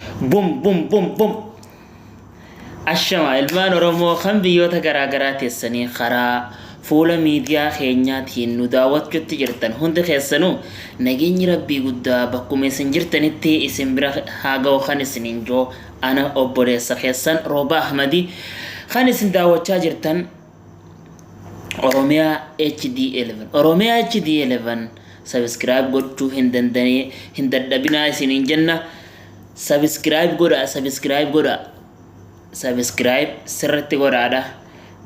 Bum bum bum bum. Ashama ilmaan Oromoo kan biyyoota garaagaraa teessanii karaa fuula miidiyaa keenyaatiin nu daawwachuutti jirtan hundi keessanuu nageenyi rabbii guddaa bakkuma isin jirtanitti isin bira haa ga'u kan isiniin joo ana obboleessa keessan Roobaa Ahmadii kan isin daawwachaa jirtan Oromiyaa HD11 Oromiyaa HD11 subscribe gochuu hin danda'ee hin dadhabinaa isiniin jenna subscribe godha subscribe godha subscribe sirritti godhaadha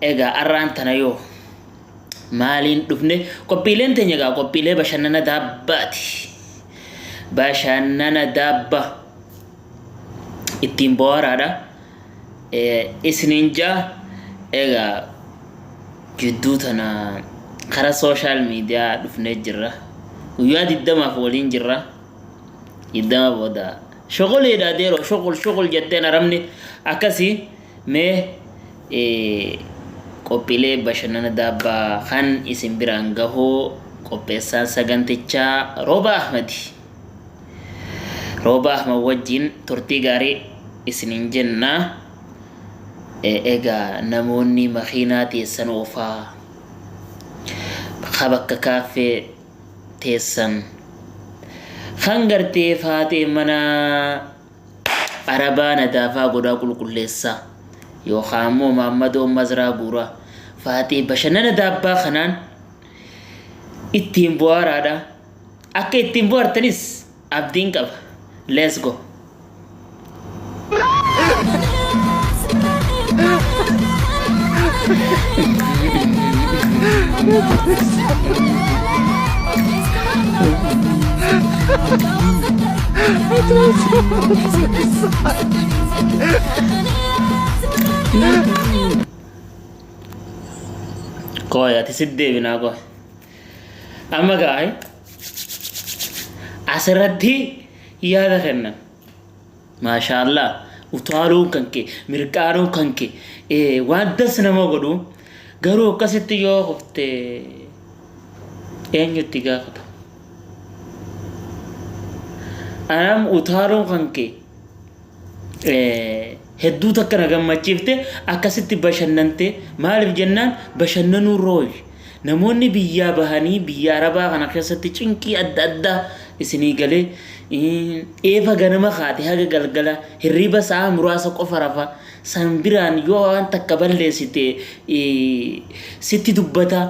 egaa arraan tana yoo maaliin dhufne qophiileen teenya egaa qophiilee bashannana daabbaati bashannana daabba ittiin bohaaraadha isiniin ja'a egaa gidduu tana kara sooshaal miidiyaa dhufnee jirra guyyaa diddamaaf waliin jirra diddama booda shoqoliidha deeroo shoqol shoqol jetteen arabni akkasii mee qophiilee bashannana daabbaa kan isin biraan gahuu qopheessaan sagantichaa rooba ahmadi Roobaa Ahmad wajjin turtii gaarii isiniin jenna. Egaa namoonni makiinaa teessan oofaa ka bakka kaaffee teessan kan gartee faatee mana arabaa nadaafaa godhaa qulqulleessaa yookaan immoo maammadoo mazraa guuraa faatee bashannana daabbaa kanaan ittiin bu'aaraadha. Akka ittiin bohartanis abdiin qaba. Let's go! Kooy ati sitti deebinaa kooy. Amma gaa'e asirratti yaada kenna. Maashaallah utaaluun kan kee mirqaanuun kan kee eh, waan das nama godhu garuu akkasitti yoo kufte eenyutti gaafata. Anam utaaluun kan kee hedduu takka na gammachiifte akkasitti bashannante maaliif jennaan bashannanuu rooy namoonni biyyaa bahanii biyya arabaa kana keessatti cinqii adda addaa isinii galee eefa ganama kaate haga galgala hirriba sa'aa muraasa qofa rafa san biraan yoo waan takka balleessite sitti dubbata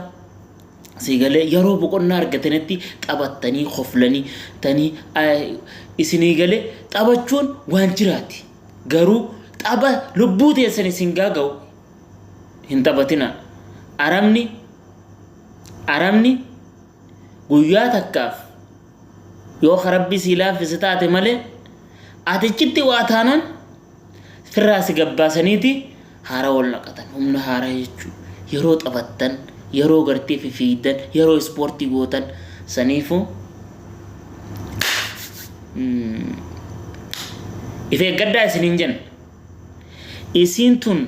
Sii galee yeroo boqonnaa argatanitti taphattanii koflanii tanii isinii galee taphachuun waan jiraati. Garuu tapha lubbuu teessan isin gaaga'u hin taphatinaa. Arabni arabni guyyaa takkaaf Yoo ka Rabbi sii laaffise taate malee, ati achitti waa taanaan firraa si gabbaasaniiti haara wal naqatan. Humna haaraa jechuu yeroo taphattan, yeroo gartee fifiigdan, yeroo ispoortii gootan saniifuu if eeggadhaa isiniin jenna. Isiin tun